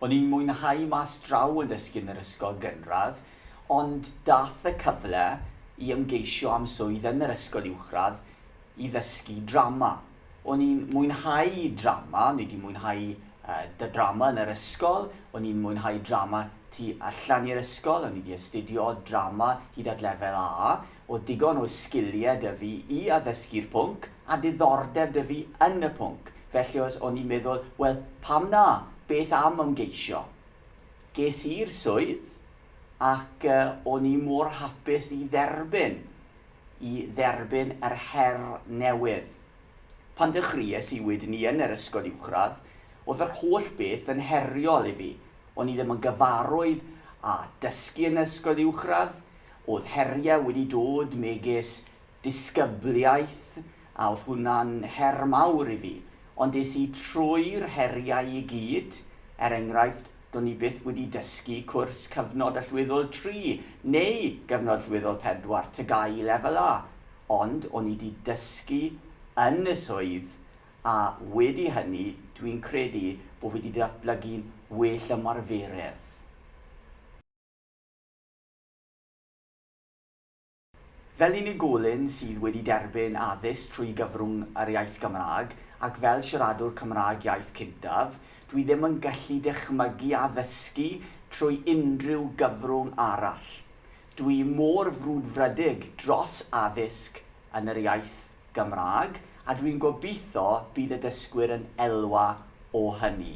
O'n i'n mwynhau mas draw yn dysgu yn yr ysgol gynradd, ond dath y cyfle i ymgeisio am swydd yn yr ysgol uwchradd i ddysgu drama. O'n i'n mwynhau drama, o'n i 'di mwynhau yy drama yn yr ysgol, o'n i'n mwynhau drama tu allan i'r ysgol, o'n i 'di astudio drama hyd at lefel A, o digon o sgiliau 'da fi i addysgu'r pwnc, a diddordeb 'da fi yn y pwnc, felly os o'n i'n meddwl, wel, pam na, beth am ymgeisio? Ges i'r swydd, ac o'n i mor hapus i dderbyn, i dderbyn yr her newydd. Pan ddechreuais i wedyn-ni yn yr ysgol uwchradd, oedd yr holl beth yn heriol i fi. O'n i ddim yn gyfarwydd â dysgu yn ysgol uwchradd, Oedd heriau wedi dod megis disgybliaeth a oedd hwnna'n her mawr i fi, ond es i trwy'r heriau i gyd, er enghraifft, do'n i byth wedi dysgu cwrs Cyfnod Allweddol Tri neu Gyfnod Allweddol Pedwar, TGAU Lefel A, ond o'n i 'di dysgu yn y swydd a wedi hynny dwi'n credu bo' fi 'di datblygu'n well ymarferydd. Fel unigolyn sydd wedi derbyn addysg trwy gyfrwng yr iaith Gymraeg, ac fel siaradwr Cymraeg iaith cyntaf, dwi ddim yn gallu dychmygu addysgu trwy unrhyw gyfrwng arall. Dwi mor frwdfrydig dros addysg yn yr iaith Gymraeg, a dwi'n gobeithio bydd y dysgwyr yn elwa o hynny.